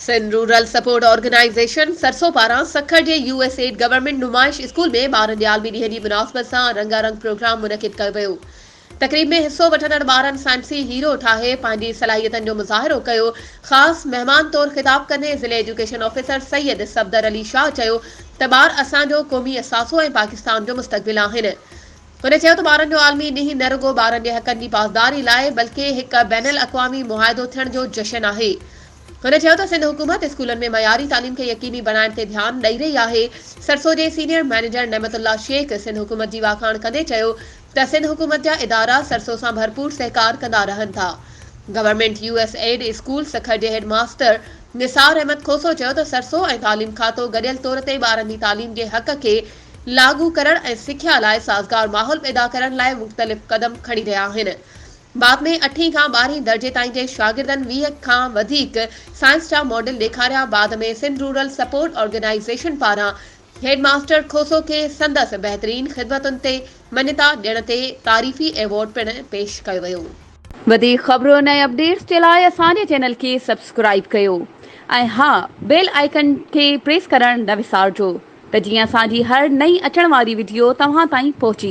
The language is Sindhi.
Sindh rural support organisation SRSO پاران سکر جي يو ايس ايڊ گورنمينٽ نمائش اسڪول ۾ ٻارن جي عالمي ڏينهن جي مناسبت سان رنگا رنگ پروگرام منعقد ڪيو ويو تقريب ۾ حصو وٺندڙ ٻارن سائنسي هيرو ٺاهي پنهنجي صلاحيتن جو مظاهرو ڪيو، خاص مهمان طور خطاب ڪندي ضلعي ايجوڪيشن آفيسر سيد صفدر علي شاهه چيو ته ٻار اسان جو قومي اثاثو ۽ پاڪستان جو مستقبل آهن. هن چيو ته ٻارن جو عالمي ڏينهن نه رڳو ٻارن جي حقن جي پاسداري لاء بلڪه هڪ بين الاقوامي معاهدو ٿيڻ جو جشن آهي. هن چيو ته سنڌ حڪومت اسڪولن ۾ معياري تعليم کي يقيني بڻائڻ تي ڌيان ڏئي رهي آهي. سرسو جي سينيئر مئنيجر نعمت الله شيخ سنڌ حڪومت جي واکاڻ ڪندي چيو ته سنڌ حڪومت جا ادارا سرسو سان ڀرپور سهڪار ڪندا رهن ٿا. Government U S aid school Sukkur جي هيڊ ماستر نثار احمد کوسو چيو ته سرسو ۽ تعليم کاتو گڏيل طور تي ٻارن جي تعليم جي حق کي لاڳو ڪرڻ ۽ سکيا لاء سازگار ماحول پيدا ڪرڻ لاء مختلف قدم کڻي رهيا آهن بعد ۾ اٺين کان ٻارهين درجي تائين جي شاگردن ويهه کان وڌيڪ سائنس جا ماڊل ڏيکاريا بعد ۾ سنڌ رورل سپورٽ آرگنائيزيشن پاران هيڊ ماستر کوسو کي سندس بهترين خدمتن تي مڃتا ڏيڻ تي تعريفي ايوارڊ پڻ پيش ڪيو ويو. وڌيڪ خبرن ۽ اپڊيٽس جي لاء اسان جي چينل کي سبسڪرائيب ڪيو ۽ ها بيل آئيڪن کي پريس ڪرڻ نه وسارجو ته جيئن اسان جي هر نئين اچڻ واري وڊيو توهان تائين پهچي